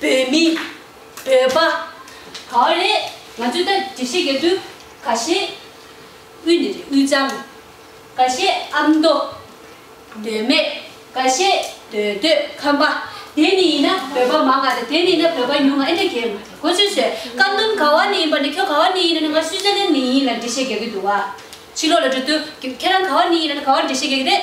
བོད་མི། བོད་པ། ག་བ་རེད་ང་ཚོས་ད་འདྲི་བཤད་བརྒྱབ་དུས་ག་ཤེད་དབུས་ནས་རེད་དབུས་གཙང། ག་ཤེད་ཨ་མདོ། འདོད་སྨད། ག་ཤེད་འདོད་འདོད་ཁམས་པ། དེ་ནི་ཡིན་ན་བོད་པ་མང་ང་རེད་དེ་ནི་ཡིན་ན་བོད་པ་ཉུང་ང་ཨེ་འདྲ་རྒྱལ་མ་རེད་གོ་ཆོད་ཆོད་ཀ་འདོན་ག་བ་ནས་ཡིན་པ་ནས་ཁྱོད་ག་བ་ནས་ཡིན་ན་ང་སུས་ཅན་ནས་ཡིན་ལ་འདྲི་བཤད་བརྒྱབ་ཀྱི་འདུག་བ། ཕྱི་ལོག་ལ་འགྲོ་དུས་ཁྱེད་རང་ག་བ་ནས་ཡིན་ན་ག་བ་འདྲི་བཤད་བརྒྱབ་ཀྱི་རེད།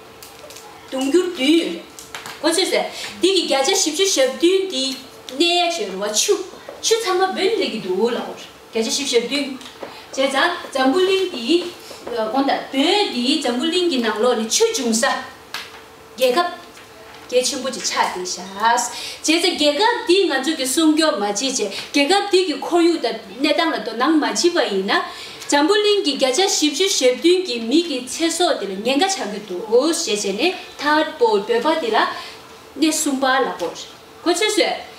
དུང་འགྱུར་བདུན། གོ་ཚོད་ཟེར། དེ་གི་བརྒྱ་ཆ་བཞི་བཅུ་ཞབས་བདུན་དེ་གནས་ཡ་བྱེད་རུ་བ་ཆུ། ཆུ་ཚང་མ་བོན་རིགས་ཀྱི་འདུག་ལ། བརྒྱ་ཆ་བཞི་བཞབས་བདུན། བྱས་ཙང་འཛམ་བུ་གླིང་འདིའི། གོང་ལྟར་བོན་འདིའི་འཛམ་བུ་གླིང་གི་ནང་ལོགས་ནི་ཆོས་འབྱུང་ས། རྒྱལ་ཁབ། རྒྱལ་ཆེན་པོ་ཅིག་ཆགས་ཏེ་བཞག། བྱས་ཚེ་རྒྱལ་ཁབ་འདིས་ང་ཚོ་གི་སྲུང་སྐྱོབ་མ་བྱེད་ཅེས་རྒྱལ་ཁབ་འདི་གི་ཁོར་ཡུག་དང་གནས་སྟངས་ལ་དོ་སྣང་མ་བྱེད་པ་ཡིན་ན། འཛམ་བུ་གླིང་གི་བརྒྱ་ཆ་བཞི་བཅུ་ཞེ་བདུན་གྱི་མི་གི་ཚེ་སྲོག་དེ་ལ་ཉེན་ཁ་ཆགས་ཀྱི་འདུག་ཞེས་བྱས་ནས་ཐར་པོ་འདོད་པ་དེ་ལ་སྣེ་གསུམ་པ་ལ་གོ། གོ་ཚོད་བཟོས།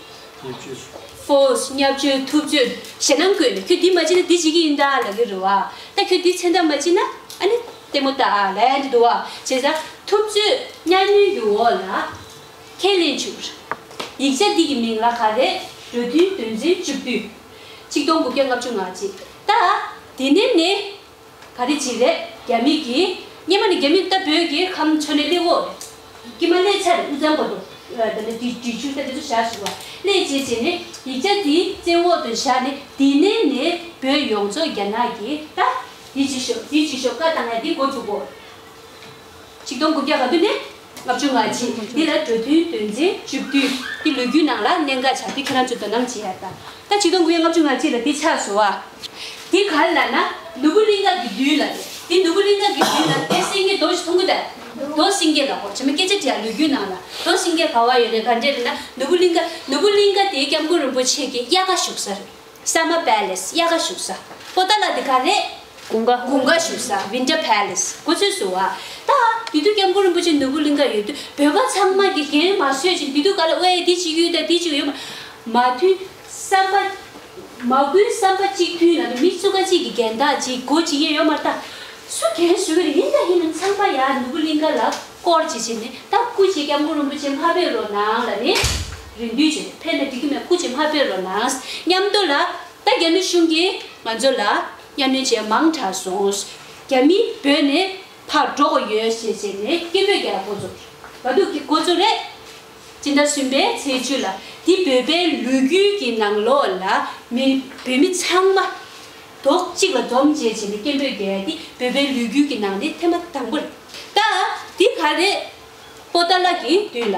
ཧྥོས། སྙབ་བཅོལ་ཐུབ་བཅོལ་ཞེ་སྣང་སྐུལ་ནས་ཁྱོད་འདི་མ་བྱིན་ན་འདི་བྱེད་ཀྱི་ཡིན་ད་ལ་གི་རུ་བ། ད་ཁྱོད་འདི་ཚན་ཐབས་མ་བྱིན་ན་ཨ་ནི་ལྟད་མོ་ད་ལན་དུ་འདུ་བ་བྱེད་ས། ཐུབ་བཅོལ་སྙ་མོའི་རྒྱུ་འོག་ལ་ཁས་ལེན་བྱུར། ཡིག་ཆ་འདི་གི་མིང་ལ་ག་རེད་རོ་དུས་དོན་ཚན་བཅུ་བདུན། གཅིག་སྟོང་དགུ་བརྒྱ་ལྔ་བཅུ་ང་གཅིག་ད། དེ་ནས་ནི་ག་རེ་བྱེད་རེད་རྒྱ་མིག་གིས། སྙེ་མོ་ནི་རྒྱ་མིག་ལྟ་བུའི་གི་ཁམ་མཆོ་ནའི་གླེ་འོག་རེད། ཀྱེ་མ་ཀླེ་ཆར་དབུ་ཚང་པོ་འདུག་ད་ནི་དེ་འབྲི་ཆུ་ལྟ་བུ་ཚོ་བཞག་བྱུང་བ་ཀླེ་བྱེད་བྱེད་ནི་ཡིག་ཆ་དེའི་རྩེ་འོག་ཏུ་བཞག་ནི་དེ་ནས་ནི་བོད་ཡོངས་རྫོགས་རྒྱ་ནག་གི་ལྟ། དེ་བྱེད་ཤོག་དེ་བྱེད་ཤོག་བཀའ་བཏང་ན་དེ་འགོ་འཛུགས་དགོས། ཆིག་སྟོང་དགུ་བརྒྱ་ག་དུས་ནས། ལྔ་བཅུ་ང་གཅིག་འདི་ལ་གྲོས་མཐུན་དོན་ཚན་བཅུ་བདུན་གྱི་ལོ་རྒྱུས་ནང་ལ་གནད་འགག་ཆགས་ཏེ་ཁྱེད་རང་ཚོས་དོ་སྣང་བྱེད་ཡག་ད་ལྟ་ཆིག་སྟོང་དགུ་ཡི་ལྔ་བཅུ་ང་གཅིག་ལ་འདི་ཆགས་སོ་ཨ། དེ་ག་ལ་ན་ནུ་བོ་གླིང་ག་གི་མདུན་ལ་རེད་དེ་ནུ་བོ་གླིང་ག་གི་མདུན་ན་དེ་སེང་གེ་རྡོ་ཞིག་ཐོང་གི་རེད་རྡོ་སེང་གེ་ལ་ཁོ་བྱེ་མ་སྐད་ཆ་དྲིས་ལོ་རྒྱུས་ནང་ལ་རྡོ་སེང་གེ་ག་བ་ཡོད་རེད་ག་འདྲས་རེད་ན་ནུ་བོ་གླིང་ག་ནུ་བོ་གླིང་ག་དེ་སྐྱབས་མགོན་རིན་པོ་ཆེ་གི་དབྱར་ཁ་བཞུགས་ས་རེད། Summer Palace དབྱར་ཁ་བཞུགས་ས། པོ་ཏཱ་ལ་དེ་ག་རེད། དགུང་ཁ། དགུང་ཁ་བཞུགས་ས Winter Palace གོ་ཚོད་བཟོ་བ། ད་འདི་དུས་སྐྱབས་མགོན་རིན་པོ་ཆེ་ནོར་བུ་གླིང་ཁ་ཡོད་དུས་བོད་པ་ཚང་མ་དགེ་རྒན་མ་བཟོས་ཤིང་འདི་དུས་ག་ལ་དབའ་ཡེ་འདི་གཅིག་ཡུལ་དང་འདི་གཅིག་ཡུལ། མ་མཐུན་བསམ་པ། མ་དགུའི་བསམ་པ་གཅིག་མཐུན་ལ་དུ་མི་གཙུག་ཁ་གཅིག་གི་རྒན་བདག་གཅིག་སྒོ་གཅིག་ཡན་ཡོད་མ་རེད་ད། སུ་གན་བཟོ་གི་རེད་ཡིན་དང་ཡིན་ནམ་ཚང་མ་ཡར་ནོར་བུ་གླིང་ཁ་ལ་སྐོར་གཅིག་བྱེད་ནས་ད་སྐུ་གཅིག་སྐྱབས་མགོན་རིན་པོ་ཆེ་མ་བོད་རོ་ནང་ལ་ནི། རིན་བསྡུས་བྱས་ཏེ་ཕེབས་ནས་སྒྲིག་གི་མེད་ཁུ་ཅི་མ་ཕེབས་རོགས་གནང། མཉམ་སྡོད་ལ། ད་རྒྱ་མི་གཞུང་གིས་ང་ཚོ་ལ་གཉའ་གནོན་བྱས་མང་དྲག་སོང། རྒྱ་མི་བོད་ནས་ཕར་འགྲོ་གི་ཡོད་ཞེས་བྱས་ནས་སྐད་འབོད་རྒྱག་འགོ་ཚུགས། ག་སྡུག་གི་འགོ་ཚུགས་རེད། སྤྱི་ཟླ་གསུམ་པའི་ཚེས་བཅུ་ལ་འདི་བོད་པའི་ལུས་རྒྱུད་ཀྱི་ནང་ལོགས་ལ་མི་བོད་མི་ཚང་མ། དོག་གཅིག་ལ་འཛོམས་བྱས་བྱས་ནས་སྐད་འབོད་རྒྱག་ཡ་འདི་བོད་པའི་ལུས་རྒྱུད་ཀྱི་ནང་ནས་ཐེངས་མ་དང་པོ་རེད། ད་འདི་ག་རེད། པོ་ཏཱ་ལ་གི་དུས་ལ།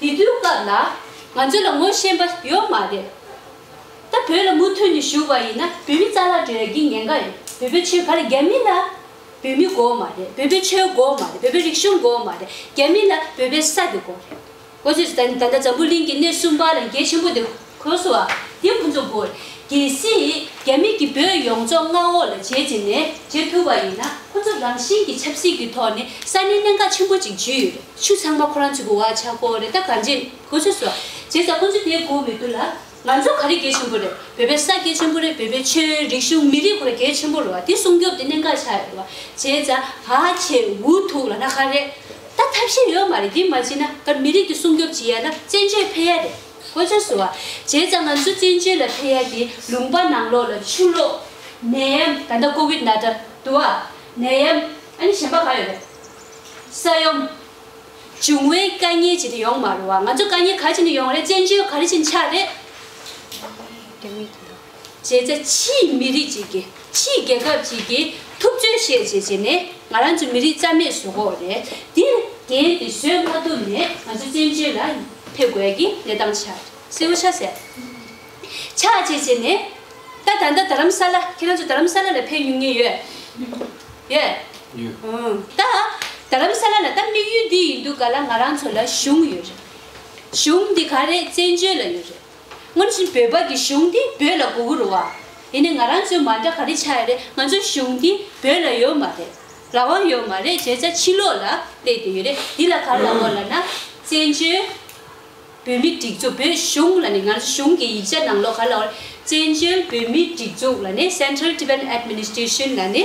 དེ་དུས་སྐབས་ལ་ང་ཚོ་ལ་ངོ་ཤེས་པ་ཡོད་མ་རེད། ད་བོད་ལ་མུ་མཐུད་ནས་ཞུགས་པ་ཡིན་ན་བོད་མི་རྩ་ལག་བྲེལ་གྱི་ཉེན་ཁ་ཡོད་བོད་པའི་ཆོལ་ཁ་ལ་རྒྱ་མི་ལ་བོད་མི་དགོས་མ་རེད་བོད་པའི་ཆོལ་དགོས་མ་རེད་བོད་པའི་རིག་གཞུང་དགོས་མ་རེད་རྒྱ་མི་ལ་བོད་པའི་ས་དེ་དགོས་རེད། གོ་ཚོད་ཟེར་ད་ནི་ད་ལྟ་འཛམ་བུ་གླིང་གི་གནས་གསུམ་པ་ལ་འགྱེལ་ཆེན་པོ་དེ། གོས་སུ་བ། དེ་ཕུན་ཚོགས་དགུ། རྒྱལ་སྲིད། རྒྱ་མི་གྱི་བོད་ཡོངས་རྫོགས་མངའ་འོག་ལ་བྱེད་ཅེས་ནས་བྱེད་ཐུབ་པ་ཡིན་ན་ཁོ་ཚོ་རང་བཞིན་གྱི་ཆབ་སྲིད་ཀྱི་ཐོག་ནས་ས་གནས་གནད་འགག་ཆེན་པོ་ཅིག་བརྗིད་ཡོད་རེད་ཆུ་ཚང་མ་ཁོ་རང་ཚོའི་གོ་བ་ཆག་གོ་རེད་ད་ག་འདྲེ་གོས་ཚོས་སུ་བ་བྱེད་ས་ཁོ་ཚོས་དེ་གོ་མི་ཐུབ་ལ། ང་ཚོ་ག་རེ་དགེ་ཆེན་པོ་རེད་བོད་པའི་ས་དགེ་ཆེན་པོ་རེད་བོད་པའི་ཆོས་རིག་གཞུང་མི་རིག་ཁོ་ར་གལ་ཆེན་པོ་རེད་བ་དེ་སྲུང་སྐྱོབ་དེ་གནད་འགག་ཆག་ཡོད་རེད་བ་བྱེད་ས་བ་བྱེད་འུ་ཐུག་ལ་ན་ག་རེ་ད་ཐབས་ཤེས་ཡོད་མ་རེད་དེ་མ་བྱེད་ན་ག་མི་རིག་གི་སྲུང་སྐྱོབ་བྱེད་ཡ་ན་བཙན་བྱོལ་འཕེལ་ཡ་རེད། ཁོ་ཅག་སུ་བ། བྱས་ཙང་ང་ཚོ་བཙན་བྱོལ་ལ་ཕེབས་ཡ་དེ་ལུང་པ་ནང་ལོག་ལ་ཆུ་ལོག། ནད་ཡམ། ད་ལྟ་ཀོ་བིད་ན་ཏྲ། དུ་བ། ནད་ཡམ། ཨ་ནི་གཞན་པ་གང་ཡོད་རེད། ས་ཡོམ། འབྱུང་བའི་དཀའ་ངལ་ཅི་དེ་ཡོང་མ་རུང་བ་ང་ཚོ་དཀའ་ངལ་ག་ཅི་ནས་ཡོང་རེད་བཙན་བྱོལ་ག་རེ་བྱིན་ཆགས་རེད། བྱས་ཚེ་ཕྱིའི་མི་རིགས་ཅིག་གིས་ཕྱིའི་རྒྱལ་ཁབ་ཅིག་གིས་ཐུབ་ཚོད་བཤད་བྱེད་ཅེས་ནི་ང་རང་ཚོ་མི་རིགས་རྩ་མེད་བཟོ་དགོས་རེད་དེ། དེའི་དེ་བཟོས་མ་ཐུབ་ནས་ང་ཚོ་བཙན་བྱོལ་ལ་ཕེབས་དགོས་ཀྱི་གནས་སྟངས་ཆགས་གསལ་བོ་ཆགས་ཟེར། ཆགས་བྱེད་ཅེས་ནི། ད་ད་ལྟ་རྡ་རམ་ས་ལ་ཁྱེད་རང་ཚོ་རྡ་རམ་ས་ལ་ལ་ཕེབས་ཉུང་ཉེ་ཡོད། ཡོད། ད་རྡ་རམ་ས་ལ་ལ་ད་དམིགས་ཡུལ་འདི་ཡིན་འདུག་ག་ལ་ང་རང་ཚོ་ལ་གཞུང་ཡོད་རེད། གཞུང་འདི་ག་རེད་བཙན་བྱོལ་ལ་ཡོད་རེད། སྔོན་བཞིན་བོད་པ་གི་གཞུང་འདི་བོད་ལ་གུ་གུ་རུ་བ། དེ་ནས་ང་རང་ཚོའི་མ་འདྲ་ག་རེ་ཆགས་ཡོད་རེད་ང་ཚོའི་གཞུང་འདི་བོད་ལ་ཡོད་མ་རེད། རང་དབང་ཡོད་མ་རེད་བྱས་ཙང་ཕྱི་ལོག་ལ་བལྟས་བསྡད་ཡོད་རེད་འདི་ལ་གར་ལ་བསྔོ་ལ་ན། བཙན་བྱོལ་བོད་མི་སྒྲིག་འཛུགས་བོད་གཞུང་ལ་ནི་ང་ཚོ་གཞུང་གི་ཡིག་ཆ་ནང་ལོག་གར་ལ་བསྔོ་རེད་བཙན་བྱོལ་བོད་མི་སྒྲིག་འཛུགས་ལ་ནི Central Tibetan Administration ལ་ནི།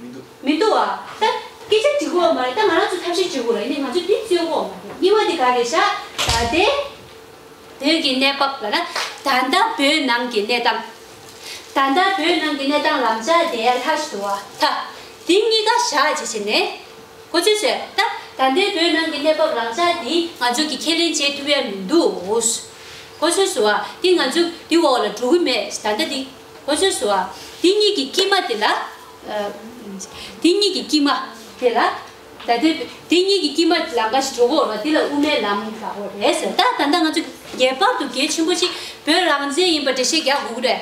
མི་འདུག། མི་འདུག་ཨ། ད། སྐད་ཆ་དྲི་གོ་བ་མ་རེད་ད་ང་རང་ཚོ་ཐབས་ཤེས་བྱེད་དགོས་རེད་ནི་ང་ཚོ་དེ་རྩོད་གོ་བ་མ་རེད་རྙིང་བ་དེ་ག་རེད་ཤག་ད་དེ། བོད་ཀྱི་གནས་བབ་ལ་ན། ད་ལྟ་བོད་ནང་གི་གནས་སྟངས། ད་ལྟ་བོད་ནང་གི་གནས་སྟངས་ལམ་ལྕག་དེ་ཡར་ལྷག་བཞིན་འདུག་ཨ་ད། དེ་གཉིས་ཀ་ཞག་ཅིག་བྱས་ནས། གོ་ཆོད་བྱས་ད། ད་ལྟའི་བོད་ནང་གི་གནས་བབ་ལམ་ལྕག་དེ་ང་ཚོ་གི་ཁས་ལེན་བྱེད་ཐུབ་ཡ་མི་འདུག། གོ་ཆོད་སུ་ཨ་དེ་ང་ཚོ་དེ་འོག་ལ་འགྲོ་གི་མེད་ད་ལྟ་དེ། ཧོ་ཆོས་སུའོ། དེ་གཉིས་ཀྱི་དཀྱིལ་མ་དེ་ལ། དེ་གཉིས་ཀྱི་དཀྱིལ་མ་དེ་ལ། ད་དེ། དེ་གཉིས་ཀྱི་དཀྱིལ་མ་ལམ་འབའ་ཞིག་གྲོལ་བའོ་རོ། དེ་ལ་དབུ་མའི་ལམ་འབའ་བོ་རེད་ཟེར། ད་ད་ལྟ་ང་ཚོ་རྒྱས་པར་དུ་དགེ་ཆེན་པོ་གཅིག་བོད་རང་བཙན་ཡིན་པར་འགྲེལ་བཤད་རྒྱག་འུག་རེད།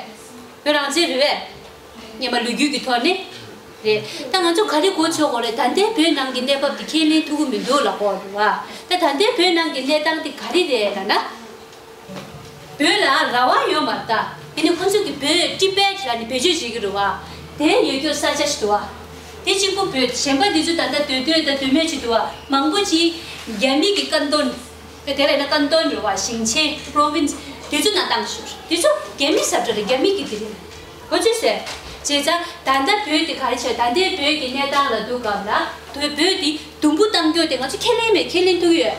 བོད་རང་བཙན་རེད་བས། སྙེ་མ་ལུས་རྒྱུད་ཀྱི་ཐོག་ནས། རེད། ད་ང་ཚོ་ག་རེ་གོ་ཆོག་གོ་རེ་ད་ལྟའི་བོད་ནང་གི་གནས་བབ་དེ་ཁས་ལེན་ཐུབ་གི་མི་འདུག་ལ་གོ། ད་ད་ལྟའི་བོད་ནང་གི་གནས་སྟངས་དེ་ག་རེ་རེད་ལ་ན། བོད་ལ་ར་བ་ཡོད་མ་ད། དེ་ནི་ཁོ་ཚོས་ཀྱི་བོད་སྤྲི་པའི་ཁྱི་ལ་ནི་བེད་སྤྱོད་བྱེད་ཀྱི་རུ་བ། དེ་ཡོད་རྒྱུ་ས་ཆ་ཞིག་ཏུ་བ། དེ་གཅིག་པུ་བོད་གཞན་པ་འདི་ཚོས་ད་ལྟ་དུས་སྟོན་དང་དུས་མེད་ཅིག་ཏུ་བ་མང་པོ་ཅིག་རྒྱ་མི་གི་ཀན་ཏོན། དེ་ལ་ཡིན་ན་ཀན་ཏོན་རེད་བ་ཞིང་ཆེན། Province། དེ་ཚོ་ན་བཏང་ཞུ། དེ་ཚོ་རྒྱ་མི་ཟབ་གྲ་རེད་རྒྱ་མི་གི་དེ་རེད། ཁོ་ཚོས་ཟེར། བྱས་ཙང་ད་ལྟ་བོད་དེ་ག་རེ་བྱས་ད་ལྟའི་བོད་ཀྱི་གནས་སྟངས་ལ་འདུག་སྐབས་ལ། བོད་དེ་དུམ་བུ་གཏང་རྒྱུ་དེ་ང་ཚོ་ཁས་ལེན་མེད་ཁས་ལེན་ཐུག་གི་ཡོད།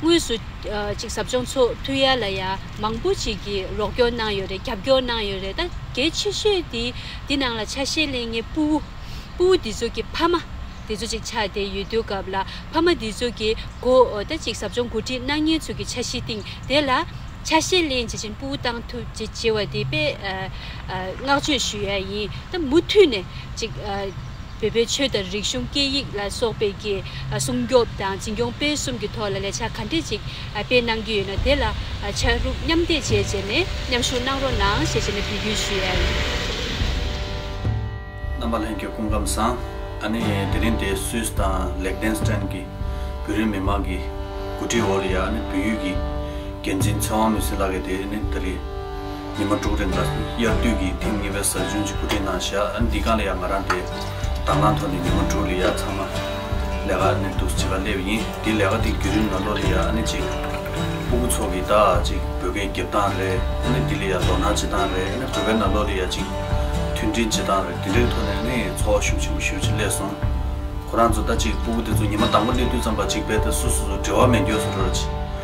དངོས་སུ། ཅིག་ཟབ་སྦྱོང་ཚོགས་འཐུས་ཡ་ལ་ཡ་མང་པོ་ཅིག་གིས་རོགས་སྐྱོར་གནང་ཡོད་རེད་རྒྱབ་སྐྱོར་གནང་ཡོད་རེད་ད་གལ་ཆེ་ཤོས་དེ་འདི་ནང་ལ་ཆ་ཤས་གླེང་ངའི་སྤུ་བོ། སྤུ་བོ་འདི་ཚོ་གི་ཕ་མ། དེ་ཚོ་ཅིག་ཆགས་དེ་ཡོད་དུས་སྐབས་ལ་ཕ་མ་འདི་ཚོ་གི་མགོ། ད་ཅིག་ཟབ་སྦྱོང་འགོ་ཁྲིད་གནང་མཁན་ཚོ་གི་ཆ་ཤས་སྟེང་དེ་ལ། ཆ་ཤས་གླེང་བྱེད་ཅིང་སྤུ་བོ་གཏང་ཐུབ་ཅིག་བྱེད་བ་དེ་དཔེ། བསྔགས་བརྗོད་ཞུ་ཡ་ཡིན་ད་མུ་མཐུད་ནས་ཅིག། བོད་པའི་ཆོས་དང་རིག་གཞུང་སྐད་ཡིག་ལ་སོགས་པའི་རྒྱས་སྲུང་སྐྱོབ་དང་འཛིན་སྐྱོང་སྤེལ་གསུམ་གྱི་ཐོག་ལ་ལས་འཆར་ག་འདྲི་ཅིག་སྤེལ་གནང་རྒྱུ་ཡོད་ན་དེ་ལ་ཕྱག་རུབ་མཉམ་འདེགས་བྱེད་ཅེས་ནས་མཉམ་ཞུགས་གནང་རོགས་གནང་ཞེས་བྱས་ནས་བོད་བརྒྱུད་ཞུ་ཡས། རྣམ་པ་ལྷན་གྱི་སྐུ་ཁམས་བཟང། ཨ་ནི་དེ་རིང་དེ་སུད་དང་ལེགས་ལྡན་སྟན་གྱི་བོད་རིགས་མི་མང་གི་གོ་སྒྲིག་འོག་ལ་ཡ་ཨ་ནི་བོད་ཡུལ་གྱི་འགན་འཛིན་ཚེ་དབང་མི་སེར་ལགས་ཀྱི་དེ་ནི་ད་རེས། ཉི་མ་དྲུག་རིང་དང་དབྱར་དུས་ཀྱི་ཐེངས་གཉིས་པའི་གཟའ་ཆུང་གཅིག་པུ་དེ་ནང་བཞག་ཨ་འདི་གང་ལ་ཡང་ང་རང་དེ་དང་བླངས་ཐོག་ནས་ཉི་མ་དྲུག་རེ་ཡར་ཚང་མ་ལས་ཀ་ནས་འདུག་བྱེད་པ་སླེབས་ཡིན་དེ་ལས་ཀ་དེ་བརྒྱུད་རིམ་ལ་ལོ་རེ་ཡར་ཨ་ནི་གཅིག་སྤུ་གུ་ཚོགས་ཀྱི་ད་ཅིག་བོད་སྐད་བརྒྱབ་སྟངས་རེ་ཨ་ནི་དེ་ལས་ཡར་དོ་སྣང་བྱེད་སྟངས་རེ་ཨ་ནི་བོད་པའི་ནང་ལོ་རེ་ཡར་གཅིག་མཐུན་སྒྲིལ་བྱེད་སྟངས་རེ་དེ་འདྲའི་ཐོག་ནས་ཨ་ནི་ཚོགས་བ་ཤུགས་ཆེན་པོ་ཞུ་ཆེད་སླེབས་སོང། ཁོ་རང་ཚོ་ད་ཅིག་སྤུ་གུ་དེ་ཚོ་ཉི་མ་དང་པོ་སླེབས་དུས་ཙམ་པ་གཅིག་བས་ཏེ་སུ་སུ་ཚོ་འབྲེལ་བ་མེད་འགྱོད་སུ་འགྲོ་རུ་ཆེ།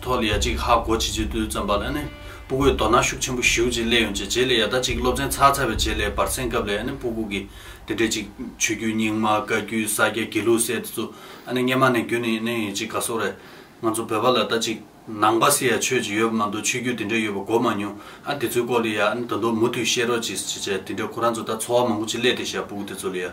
ཐོག་ལ་ཡ་གཅིག་ཧ་གོ་བྱེད་ཚུལ་དུ་བརྩམས་པ་ལ་ནི་སྤུ་གུས་དོ་སྣང་ཤུགས་ཆེན་པོ་ཞུ་ཅིང་སླད་ཡོང་བྱས་རྗེས་ལས་ཡ་ད་ཅིག་སློབ་ཚན་ཚར་ཚར་བའི་རྗེས་ལས་བར་གསེང་སྐབས་ལས་ནི་སྤུ་གུ་གིས་དེ་འདྲའི་ཅིག་ཆོས་བརྒྱུད་རྙིང་མ་བཀའ་བརྒྱུད་ས་སྐྱ་དགེ་ལུགས་སེ་དེ་ཚོ་ཨ་ནི་སྙེ་མ་ནས་བརྒྱུད་ནས་ནི་ཡིན་ཅིག་ག་སོགས་རེད། ང་ཚོ་བོད་པ་ལ་ད་ཅིག་ནང་པ་སི་ཡ་ཆོས་ཅིག་ཡོད་པ་མ་འདུག་ཆོས་བརྒྱུད་དེ་འདྲའི་ཡོད་པ་གོ་མ་མྱོང་ཨ་དེ་ཚོའི་སྐོར་ལ་ཡ་ཨ་ནི་ད་དུང་མུ་མཐུད་བཤད་རོགས་ཅིག་བྱས་རྗེས་དེ་འདྲའི་ཁོ་རང་ཚོ་ད་འཚོ་བ་མང་པོ་ཅིག་སླད་དེ་ཤ་སྤུ་གུ་དེ་ཚོ་ལ་ཡ།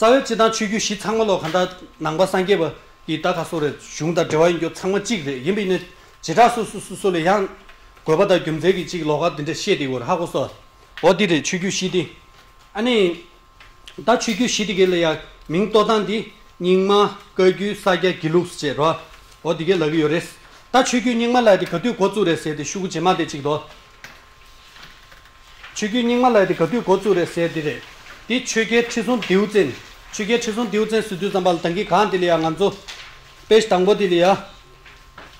རྩ་བའི་སྤྱི་དང་ཆོས་བརྒྱུད་བཞི་ཚང་མ་ལོ་ག་ཟླ་ནང་པ་སངས་རྒྱས་པ་ཡི་ལྟ་ག་སོགས་རེ་གཞུང་དང་འབྲེལ་བ་ཡིན་རྒྱུ་ཚང་མ་གཅིག་རེད་ཡིན་པ་ཡིན་ན་བྱེ་བྲག་སོ་སོ་སོ་སོ་ལ་ཡང་དགོས་པ་དང་རྒྱུ་མཚན་གྱི་གཅིག་ལོ་ག་འདི་འདྲ་བཤད་དེ་འོ་ཧ་གོ་སོ་འོ་འདི་རེད་ཆོས་བརྒྱུད་བཞི་འདི་ཨ་ནི་ད་ཆོས་བརྒྱུད་བཞི་འདི་གའི་ལ་ཡང་མིང་བཏོ་སྟངས་འདི་རྙིང་མ་བཀའ་བརྒྱུད་ས་སྐྱ་དགེ་ལུགས་ཟེར་རོ་འོ་འདི་གའི་ལ་གི་ཡོ་རེད་ད་ཆོས་བརྒྱུད་རྙིང་མ་ལ་ཡ་འདི་ག་དུས་འགོ་བཙུགས་རེད་ཟེར་དེ་ཤུ་གུ་རྗེས་མ་འདི་གཅིག་འདོ། ཆོས་རྒྱུད་རྙིང་མ་ལ་ཡོད་དེ་ག་དུས་འགོ་བཙུགས་རེད་ཟེར་འདི་རེད། འདི་ཆོས་རྒྱལ་ཁྲི་སྲོང་ལྡེའུ་བཙན། ཆོས་རྒྱལ་ཁྲི་སྲོང་ལྡེའུ་བཙན་གསོལ་དུས་བརྩམས་པ་ལ་དང་གི་གང་དེ་ལ་ཡང་ང་ཚོ། དཔེ་གཞི་དང་པོ་དེ་ལ་ཡང།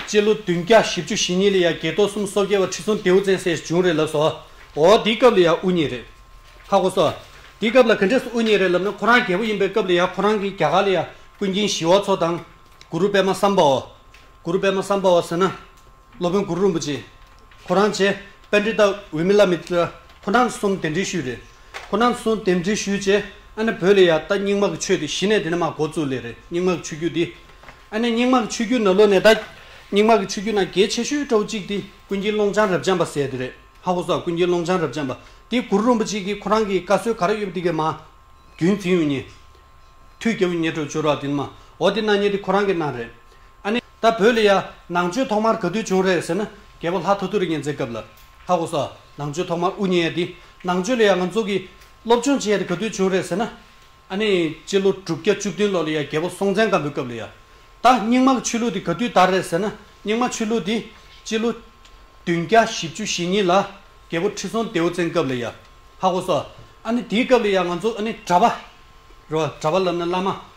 སྤྱི་ལོ་བདུན་བརྒྱ་བཞི་བཅུ་ཞེ་གཉིས་ལ་ཡང་དགེ་ཐོག་གསུམ་སོ་བརྒྱད་པ་ཁྲི་སྲོང་ལྡེའུ་བཙན་སྲས་བྱུང་རེད་ལབས་སོ། འོ་འདི་སྐབས་ལ་ཡང་དབུ་བརྙེས་རེད། ཧ་གོ་སོ། འདི་སྐབས་ལ་ག་འདྲས་སུ་དབུ་བརྙེས་རེད་ལབས་ན་ཁོ་རང་རྒྱལ་པོ་ཡིན་པའི་སྐབས་ལ་ཡང་ཁོ་རང་གིས་རྒྱ་གར་ལ་ཡང་ཀུན་མཁྱེན་ཞི་བ་འཚོ་དང། གུ་རུ་པདྨ་སམྦྷ་བ། གུ་རུ་པདྨ་སམྦྷ་བ་ཟེར་ན། སློབ་དཔོན་གུ་རུ་རིན་པོ་ཆེ་ཁོ་རང་བཅས་དཔལ་འབྲི་སྟག་འོས་མི་བླ་མེད་ཀྱི་ཕོ་ནང་གསུམ་གདན་འདྲེན་ཞུས་རེད། ཕོ་ནང་གསུམ་གདན་འདྲེན་ཞུས་རྗེས་ཨ་ནེ་བོད་ལ་ཡར་ལྟ་རྙིང་མ་གི་ཆོས་དེ་གཞི་ནས་དེ་ནས་མ་གོ་ཚུལ་ལས་རེད་རྙིང་མ་གི་ཆོས་བརྒྱུད་འདི། ཨ་ནེ་རྙིང་མ་གི་ཆོས་བརྒྱུད་ན་ལོ་ནས་ད་རྙིང་མ་གི་ཆོས་བརྒྱུད་ན་གལ་ཆེ་ཤོས་ཀྲོའུ་གཅིག་དེ་ཀུན་མཁྱེན་ཀློང་བྱང་རབ་འབྱམས་པ་ཟེར་དེ་རེད་ཧ་གོ་ས་ཀུན་མཁྱེན་ཀློང་བྱང་རབ་འབྱམས་པ་དེ་གུ་རུ་རིན་པོ་ཆེ་གིས་ཁོ་རང་གི་བཀའ་སྲོལ་ག་རེ་ཡོད་པ་དེ་གས་མ་རྒྱུན་འཛིན་ཡོང་ཉེ་དུས་རྒྱལ་བོ་ཉེ་དྲོ་བྱོ་ར་དེ་ནས་མ་འོ་དེ་གནང་ཉེ་དེ་ཁོ་རང་གིས་གནང་རེད་ཨ་ནེ། ད་བོད་ལ་ཡ། ནང་ཆོས་ཐོག་མར་ག་དུས་བྱུང་རེད་ཟེར་ན། རྒྱལ་པོ་ལྷ་ཐོ་ཐོ་རི་གཉན་བཙན་སྐབས་ལ། ཧ་གོ་ས། ནང་ཆོས་ཐོག་མར་དབུ་བརྙེས་དེ། ནང་ཆོས་ལ་ཡ་ང་ཚོ་གིས། སློབ་སྦྱོང་བྱས་དེ་ག་དུས་བྱུང་རེད་ཟེར་ན། ཨ་ནི། སྤྱི་ལོ་དྲུག་བརྒྱ་བཅུ་བདུན་ལོ་ལ་ཡ་རྒྱལ་པོ་སྲོང་བཙན་སྒམ་པོའི་སྐབས་ལ་ཡ། ད། རྙིང་མ་གི་ཆོས་ལུགས་དེ་ག་དུས་དར་རེད་ཟེར་ན། རྙིང་མ་ཆོས་ལུགས་དེ། སྤྱི་ལོ། བདུན་བརྒྱ་བཞི་བཅུ་ཞེ་གཉིས་ལ། རྒྱལ་པོ་ཁྲི་སྲོང་ལྡེའུ་བཙན་སྐབས་ལ་ཡ། ཧ་གོ་ས། ཨ་ནི་དེའི་སྐབས་ལ་ཡ་ང་ཚོ་ཨ་ནི་གྲྭ་པ། རེད་བ། གྲྭ་པ་ལབ་ན་བླ་མ།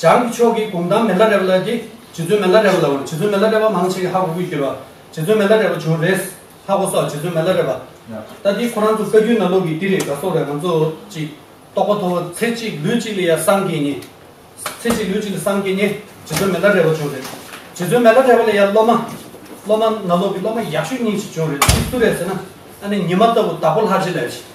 བྱང་གི་ཕྱོགས་ཀྱི་གུང་ཐང་མེ་ལ་རེ་བ་ལ་དེ་རྗེ་བཙུན་མེ་ལ་རེ་བ་ལའོ་རྗེ་བཙུན་མེ་ལ་རེ་བ་མང་ཆེ་གེ་ཧ་གོ་ཀུན་གྱུར་བ་རྗེ་བཙུན་མེ་ལ་རེ་བ་བྱུང་རེས་ཧ་གོ་སོགས་རྗེ་བཙུན་མེ་ལ་རེ་བ་ལྟ་དེ་ཁོ་རང་ཚོ་བཀའ་བརྒྱུད་ན་ལོག་གི་དེ་རེད་དགའ་སོགས་རེད་ང་ཚོ་ཅིག་རྟོགས་པ་ཐོ་བོ་ཚེ་གཅིག་ལུས་གཅིག་ལ་ཡ་བསམ་གྱིས་ནི། ཚེ་གཅིག་ལུས་གཅིག་ལ་བསམ་གྱིས་ནི་རྗེ་བཙུན་མེ་ལ་རེ་བ་བྱུང་རེས་རྗེ་བཙུན་མེ་ལ་རེ་བ་ལ་ཡ་སློབ་མ་སློབ་མ་ན་ལོག་གི་སློབ་མ་ཡག་ཤོས་གཉིས་ཅིག་བྱུང་རེས་དེ་སུ་རེད་ཟེར་ན་ཨ་ནེ་ཉི་མ་ལྟ་བུ་དྭགས་པོ་ལྷ་རྗེ་ལས་རེད།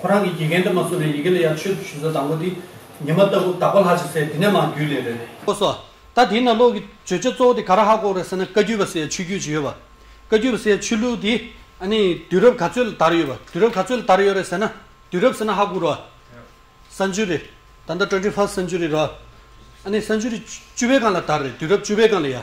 ཁོ་རང་གི་དགེ་རྒན་དུ་མ་བསུ་ནས་ཡི་གེ་ལ་ཡར་ཆོད་དུ་ཞུ་ས་དང་པོ་དེ། ཉི་མ་ལྟ་བུ་དག་པ་ལྷ་ཆེ་སའི་དེ་ནས་མར་རྒྱུད་ལས་རེད། ཁོ་སོགས། ད་དེའི་ནང་ལོག་གི་བརྗོད་བྱ་གཙོ་བོ་དེ་ག་ར་ཧ་གོ་རེད་ཟེར་ན་བཀའ་བརྒྱུད་པ་སའི་ཆོས་བརྒྱུད་ཅིག་ཡོད་པ། བཀའ་བརྒྱུད་པ་སའི་ཆོས་ལུགས་དེ། ཨ་ནི། དུས་རབས་ག་ཚོད་ལ་དར་ཡོད་པ། དུས་རབས་ག་ཚོད་ལ་དར་ཡོད་རེད་ཟེར་ན། དུས་རབས་ཟེར་ན་ཧ་གོ་རོགས། སྭནཅུ་རི། ད་ལྟ་ཏྲོན་ཏྲི་ཧྥ་སྭནཅུ་རི་རོགས། ཨ་ནི་སྭནཅུ་རི་བཅུ་བའི་སྒང་ལ་དར་རེད་དུས་རབས་བཅུ་བའི་སྒང་ལ་ཡ།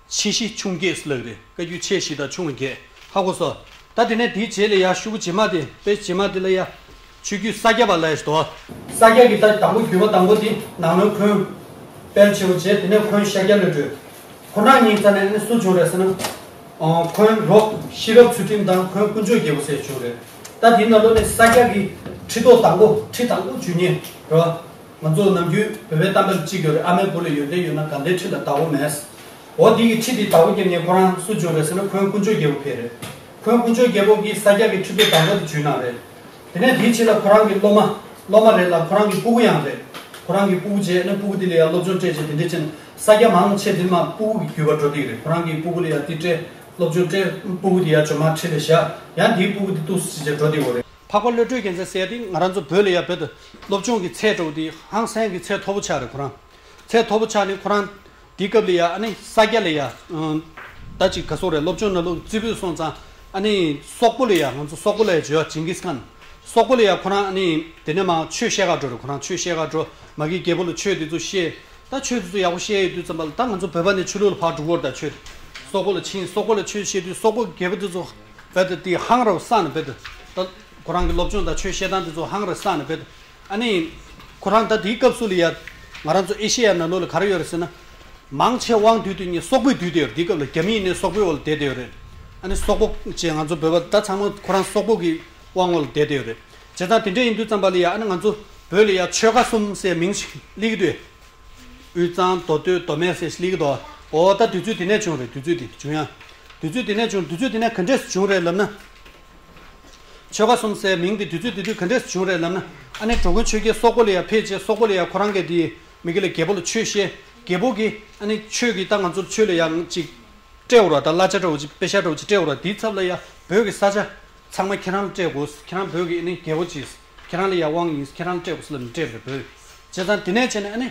ཆེ་བཞི་ཆུང་བརྒྱད་སུ་ལག་རེ་བཀའ་རྒྱུད་ཆེ་བཞི་དང་ཆུང་བ་བརྒྱད་ཧ་གོ་སོ། ད་དེ་ནས་དེའི་རྗེས་ལ་ཡང་ཤུ་བུ་བྱེ་མ་དེ་དཔེ་བྱེ་མ་དེ་ལ་ཡང། ཆོས་བརྒྱུད་ས་སྐྱ་པ་ལ་ཡང་ཞེས་དོ། ས་སྐྱ་གི་ད་དང་པོ་བརྒྱུད་པ་དང་པོ་དེ་ནང་ལོའི་འཁོན། དཔལ་ཆེ་བོ་བྱེ་དེ་ནས་འཁོན་ཤཱཀྱ་ལོའི་འགྲོས། ཁོ་ན་ཉིང་རྩ་ནས་ནི་སུ་བྱུང་རེད་ཟེར་ན། འཁོན་རོ་ཤེས་རབ་ཚུལ་ཁྲིམས་དང་འཁོན་དཀོན་མཆོག་རྒྱལ་པོ་སེར་བྱུང་རེད། ད་དེའི་ནང་ལོ་ནས་ས་སྐྱ་གི་ཁྲི་ཐོག་དང་པོ་ཁྲི་དང་པོ་བཅུ་གཉིས་རོ། ང་ཚོ་ནམ་རྒྱུན་བོད་པའི་གཏམ་དཔེར་གཅིག་གྱོ་རེད་ཨ་མའི་བུ་ལ་ཡོན་ཏན་ཡོད་ན་དགའ་ཟླའི་ཁྲི་ལ་དག་བོ་མེད། འོ་དེ་གི་ཁྲི་དེ་དག་བོ་ཀྱེ་ངས་ཁོ་རང་སུ་བྱོན་རེད་ཟེར་ན་ཁོའི་དཀོན་མཆོག་རྒྱལ་པོ་ཕེབས་རེད། ཁོའི་དཀོན་མཆོག་རྒྱལ་པོ་ཀྱིས་ས་སྐྱ་གི་ཁྲི་ཚོ་དག་བོ་དེ་ཇུས་གནང་རེད། དེ་ནས་དེའི་ཕྱི་ལ་ཁོ་རང་གི་སློབ་མ། སློབ་མ་རེད་ལ་ཁོ་རང་གི་སྤུ་གུ་ཡང་རེད། ཁོ་རང་གི་སྤུ་གུ་བྱས་ན་སྤུ་གུ་དེ་ལ་ཡང་སློབ་སྦྱོང་སྤྲད་བྱས་དེ་འདྲས་ཕྱིན་ས་སྐྱ་མང་ཆེ་དེ་མ་སྤུ་གུ་གི་རྒྱུད་པར་འགྲོ་སྡིག་རེད་ཁོ་རང་གི་སྤུ་གུ་ལ་ཡང་དེ་སྤྲད་སློབ་སྦྱོང་སྤྲད་སྤུ་གུ་དེ་ཡང་བྱོན་མར་ཁྲི་ལ་བཞག་ཡང་དེའི་སྤུ་གུ་དེ་བཏུགས་སུ་བྱས་བྱས་འགྲོ་སྡིག་བོ་རེད། འཕགས་པ་བློ་གྲོས་རྒྱལ་མཚན་གསལ་དེ་ང་རང་ཚོ་བོད་ལ་ཡང་བོད་དུ་སློབ་ཆུང་གི་ཚད་དྲོ་བོ་དེ་ཧང་སན་གི་ཚད་མཐོ་བོ་ཆགས་རེད་ཁོ་རང། ཚད་མཐོ་བོ་ཆགས་ནས་ཁོ་རང། དེའི་སྐབས་ལས་ཡ་ཨ་ནི་ས་སྐྱ་ལས་ཡ། ད་ཅིག་ག་སོང་རེད་སློབ་ཆུང་ན་ལུག་རྩི་བུད་སོང་ཙང་ཨ་ནི་སོག་པོ་ལས་ཡ་ང་ཚོ་སོག་པོ་ལས་ཇོ་ཡ་ཇིང་གིས་ཁཱན། སོག་པོ་ལས་ཡ་ཁོ་རང་ཨ་ནི་དེ་ནས་མང་ཆོས་བཤད་ག་འགྲོ་རེད་ཁོ་རང་ཆོས་བཤད་ག་འགྲོ། མ་གིའི་རྒྱལ་པོ་ལ་ཆོས་དེ་ཚོ་བཤད། ད་ཆོས་དེ་ཚོ་ཡག་པོ་བཤད་ཡོད་དུས་ཙམ་པ་ལ་ད་ང་ཚོ་བོད་པ་ནས་ཆོས་ལུགས་ལ་ཕར་འགྲོ་གོ་རེད་ད་ཆོས་དེ། སོག་པོ་ལ་ཕྱིན་སོག་པོ་ལ་ཆོས་བཤད་དུས་སོག་པོ་གི་རྒྱལ་པོ་དེ་ཚོ། བད་དེ་དེ་ཧང་ར་བོ་ས་ནས་བད་དེ། ཁོ་རང་གི་སློབ་སྦྱོང་དང་ཆོས་བཤད་སྟངས་དེ་ཚོ་ཧང་རེ་སངས་ནས་བོད། ཨ་ནི། ཁོ་རང་ད་དེའི་སྐབས་སུ་ལི་ཡ། ང་རང་ཚོ་ཨེ་ཤེ་ཡ་ནང་ལོགས་ལ་ག་རེ་ཡོད་རེད་ཟེར་ན། མང་ཆེ་བང་དུད་དུད་གཉིས་སོག་པོའི་དུད་དེ་ཡོད་རེད་དེའི་སྐབས་ལ་རྒྱ་མི་ཡིན་ནའི་སོག་པོའི་འོག་ལ་བསྡད་དེ་ཡོད་རེད། ཨ་ནི་སོག་པོ། ཅེས་ང་ཚོ་བོད་པ་ད་ཚང་མ་ཁོ་རང་སོག་པོ་གི་དབང་འོག་ལ་བསྡད་དེ་ཡོད་རེད། བྱས་ཙང་དེ་འདྲས་ཡིན་དུས་ཙམ་པ་ལི་ཡ་ཨ་ནི་ང་ཚོ་བོད་ལི་ཡ་ཆོལ་ཁ་གསུམ་སའི་མིང་ཞིག་གླིག་དུས། དབུས་གཙང་མདོ་སྟོད་མདོ་སྨད་སའི་གླིག་དོ། འོ་ད་དུས་ཚོད་དེ་ནས་བྱུང་རེད་དུས་ཚོད་དེ་བྱུང་ཡ། དུས་ཚོད་དེ་ནས་བྱུང་དུས་ཚོད་དེ་ནས་ག་འདྲས་སུ་བྱུང་རེད་ལབ་ན། ཆོལ་ཁ་གསུམ་སའི་མིང་དེ་དུས་ཚོད་དེ་དུས་ག་འདྲས་སུ་བྱུང་རེད་ལབ་ན། ཨ་ནེ་གྲོ་མགོན་ཆོས་རྒྱལ་སོག་པོ་ལ་ཡང་ཕེབས་རྗེས་སོག་པོ་ལ་ཡང་ཁོ་རང་གི་དེ་མི་གི་ལ་རྒྱལ་པོ་ལ་ཆོས་བཤད། རྒྱལ་པོ་གིས་ཨ་ནེ་ཁྱོད་ཀྱིས་ད་ང་ཚོར་ཆོས་ལ་ཡང་ཅིག་སྤྲད་འོར་བ་དང་གླ་ཆ་སྤྲད་འོར་ཅིག་དཔེ་ཤ་སྤྲད་འོར་ཅིག་སྤྲད་འོར་བ་དེའི་ཚབ་ལ་ཡང་བོད་ཀྱི་ས་ཆ་ཚང་མ་ཁྱེད་རང་ལ་སྤྲད་དགོས། ཁྱེད་རང་བོད་ཀྱི་ཨ་ནེ་རྒྱལ་པོ་གྱིས། ཁྱེད་རང་ལ་ཡང་དབང་ཡིན་ཁྱེད་རང་ལ་སྤྲད་དགོས་སུ་ལ་མི་སྤྲད་པར་བོད། བྱས་ཙང་དེ་ནས་བྱས་ནས་ཨ་ནི།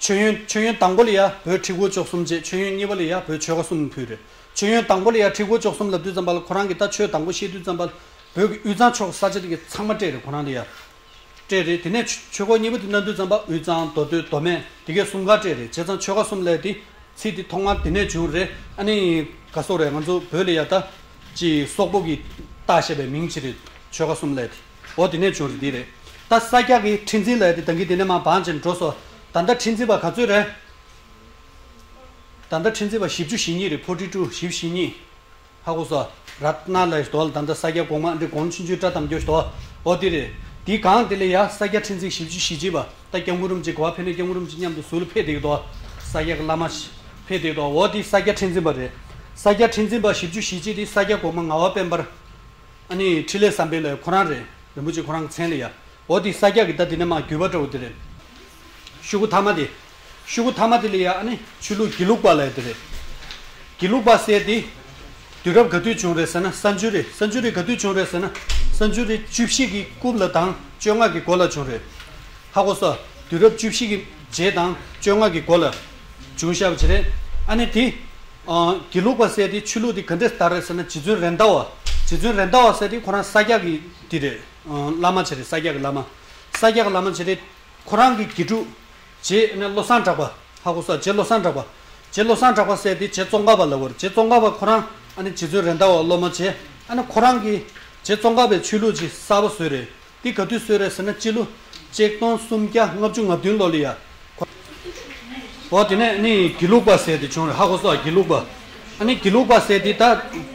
མཆོད་ཡོན་མཆོད་ཡོན་དང་པོ་ལ་ཡང་བོད་ཁྲི་སྒོ་ཅོག་གསུམ་བཅས་མཆོད་ཡོན་གཉིས་པ་ལ་ཡང་བོད་ཆོལ་ཁ་གསུམ་ཕུལ། མཆོད་ཡོན་དང་པོ་ལ་ཡང་ཁྲི་སྒོ་ཅོག་གསུམ་ལབ་དུས་ཙམ་པ་ལ་ཁོ་རང་གིས་ད་ཆོས་དང་པོ་བཤད་དུས་ཙམ་པ་ལ་བོད་ཀྱི་དབུས་གཙང་ཕྱོགས་ཀྱི་ས་ཆ་དེ་གའི་ཚང་མ་སྤྲད་རེད་ཁོ་རང་ལ་ཡང། སྤྲད་རེད་དེ་ནས་ཆོས་སྒོ་གཉིས་པ་དེ་ན་དུས་ཙམ་པ་དབུས་གཙང་མདོ་སྟོད་མདོ་སྨད་དེ་གའི་གསུམ་ག་སྤྲད་རེད་བྱས་ཙང་ཆོལ་ཁ་གསུམ་ལས་དེ་ཚིག་དེ་ཐོག་མར་དེ་ནས་བྱུང་རེད་ཨ་ནི། ག་སོག་རེད་ང་ཚོ་བོད་ལ་ཡང་ད། ཅེས་སོག་པོ་གིས་རྟགས་བཤད་པའི་མིང་ཅི་རེད། ཆོལ་ཁ་གསུམ་ལས་དེ། འོ་དེ་ནས་བྱུང་རེད་འདི་རེད། ད་ས་སྐྱ་གིས་ཁྲི་འཛིན་ལས་དེ་ད་གིན་དེ་ནས་མ་བང་ཅན་འགྲོ་སོ། ད་ལྟ་ཁྲི་འཛིན་པ་ག་ཚོད་རེད། ད་ལྟ་ཁྲི་འཛིན་པ་བཞི་བཅུ་ཞེ་གཉིས་རེད་ཕོ་ཁྲི་ཀྲུའུ་བཞི་བཞི་གཉིས། ཧ་གོ་སོ། ར་ཏི་ན་ལས་དོ་ད་ལྟ་ས་སྐྱ་གོང་མ་འདི་གོང་ཕྱིན་ཆུའི་སྐྲ་དམ་རྒྱོ་ཟོ། འོ་དེ་རེད། དེ་གང་དེ་ལས་ཡ་ས་སྐྱ་ཁྲི་འཛིན་བཞི་བཅུ་ཞེ་གཅིག་པ་ད་སྐྱ་མགུར་རུམ་གཅིག་གོ་བ་ཕེ་ནས་སྐྱ་མགུར་རུམ་གཅིག་མཉམ་དུ་ཟུ་ལ་ཕེ་དེ་གི་དོ། ས་སྐྱ་གི་བླ་མ། ཕེ་དེ་གི་དོ་འོ་དེ་ས་སྐྱ་ཁྲི་འཛིན་པ་རེད། ས་སྐྱ་ཁྲི་འཛིན་པ་བཞི་བཅུ་ཞེ་གཅིག་དེ་ས་སྐྱ་གོང་མ་ང་བ་དཔལ་འབར། ཨ་ནི་ཁྲི་ལས་བསམ་པའི་ལས་ཁོ་རང་རེད་རིན་པོ་ཆེ་ཁོ་རང་གི་མཚན་ལས་ཡ་ཨོ་དེ་ས་སྐྱ་གི་ད་དེ་ནས་མ་གུས་པ་འདྲ་བོ་དེ་རེད། ཤུ་གུ་ཐ་མ་དེ། ཤུ་གུ་ཐ་མ་དེ་ལས་ཡ་ཨ་ནི་ཆོས་ལུགས་དགེ་ལུགས་པ་ལས་དེ་རེད། དགེ་ལུགས་པ་ཟེར་དེ། དུས་རབས་ག་དུས་བྱུང་རེད་ཟེར་ན་ས་འཇུ་རི་ས་འཇུ་རི་ག་དུས་བྱུང་རེད་ཟེར་ན་ས་འཇུ་རི་བཅུ་བཞི་གི་སྐུབ་ལ་དང་བཅོ་ལྔ་གི་འགོ་ལ་བྱུང་རེད། ཧ་གོ་སོ་དུས་རབས་བཅུ་བཞི་གི་རྗེས་དང་བཅོ་ལྔ་གི་འགོ་ལ། བྱུང་ཤ་བྱི་རེད་ཨ་ནི་དེ། དགེ་ལུགས་པ་བསད་དེ་ཆོས་ལུགས་དེ་ག་འདྲས་ལྟར་རེད་ཟེར་ན་རྗེ་བཙུན་རེད་མདའ་བ། རྗེ་བཙུན་རེད་མདའ་བ་བསད་དེ་ཁོ་རང་ས་སྐྱ་གི་དེ་རེད། བླ་མ་བྱེད་རེད་ས་སྐྱ་གི་བླ་མ། ས་སྐྱ་གི་བླ་མ་བྱེད་དེ། ཁོ་རང་གི་དགེ་ཕྲུག། རྗེ་ནི་བློ་བཟང་གྲགས་པ། ཧ་གོ་ས་རྗེ་བློ་བཟང་གྲགས་པ། རྗེ་བློ་བཟང་གྲགས་པ་བསད་དེ་རྗེ་ཙོང་ཁ་པ་ལ་བོར་རྗེ་ཙོང་ཁ་པ་ཁོ་རང་ཨ་ནི་རྗེ་བཙུན་རེད་མདའ་བ་སློབ་མ་བྱེད་ཨ་ནི་ཁོ་རང་གི་རྗེ་ཙོང་ཁ་པའི་ཆོས་ལུགས་ཀྱི་གསར་བ་བཟོས་རེད་འདི་ག་དུས་ཚོད་རེད་ཟེར་ན་སྤྱི་ལོ་གཅིག་སྟོང་སུམ་བརྒྱ་ལྔ་བཅུ་ང་བདུན་ལོ་ལི་ཡ་གོ། འོ་དེ་ནས་ཨ་ནི་དགེ་ལུགས་པ་ཟེར་དེ་བྱུང་རེད་ཧ་གོ་སོགས་དགེ་ལུགས་པ། ཨ་ནི་དགེ་ལུགས་པ་ཟེར་དེ་ད་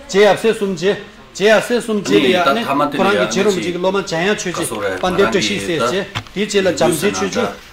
རྗེ་ཡབ་སྲས་གསུམ་རྗེ་རྗེ་ཡབ་སྲས་གསུམ་རྗེ་ལི་ཡ་ཨ་ནི་ཁོ་རང་གི་རྗེ་རུམ་གཅིག་གི་སློབ་མ་འཇམ་དབྱངས་ཆོས་རྗེ་དཔའ་འདེབས་བཀྲ་ཤིས་ཟེར་རྗེ་དེའི་རྗེས་ལ་འཇམ་རྗེ་ཆོས་རྗེ